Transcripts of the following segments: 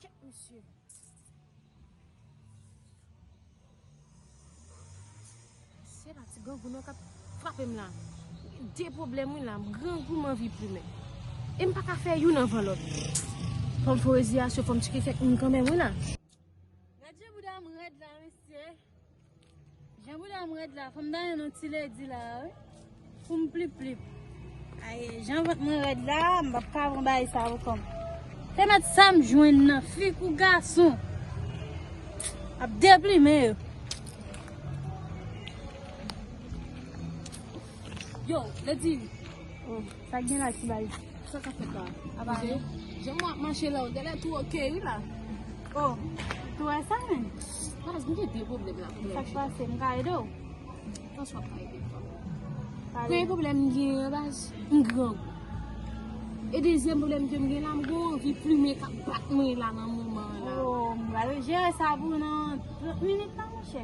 Tchèk misye. Se pa ti grangou non kap frape m la. De pwoblèm wi la. Grangou m anvi plumen. E m pa ka fè youn anvan lòt. Fò m fò reziyasyon, fò m tcheke kèk moun kanmenm wi la. Gad jan bouda m rèd la mesye. Jan bouda m red la fom ta yon ti ledi la wi poum plip plip. Aye jan vant mwen red la m pap ka pran bagay sa pou kòm. Te met sam jwenn nan fi kou gason ap deplimen yo. Yo ledi. Sak gen la ti baz. Sa kap fet la. Apa se. Jan mwen ap mache la ou gade tou ok wi la. Oh. Tou wè sa men. Baz mwen gen de problem la. Sak pase m ka ede w. Mwen swa pa ede m. Premye problem m gen la baz. M gran gou. E dezyem problem ke m gen la m gen anvi plumen kap bat mwen la nan moman la. Oh m gade jere sa pou nan 30 minit la mouche.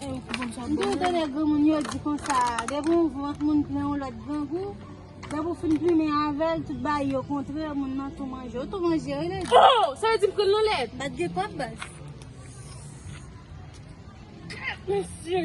M toujou tande granmoun yo di konsa, depi yon vant moun plen yon lòt grangou, depi ou fin plimen avè l, tout bagay yo kontre, moun nan tou manje. Ou tou manje wi Lady. Ho! Sa vle di m pran nan lèt? Bat gen pòp baz. Mesye!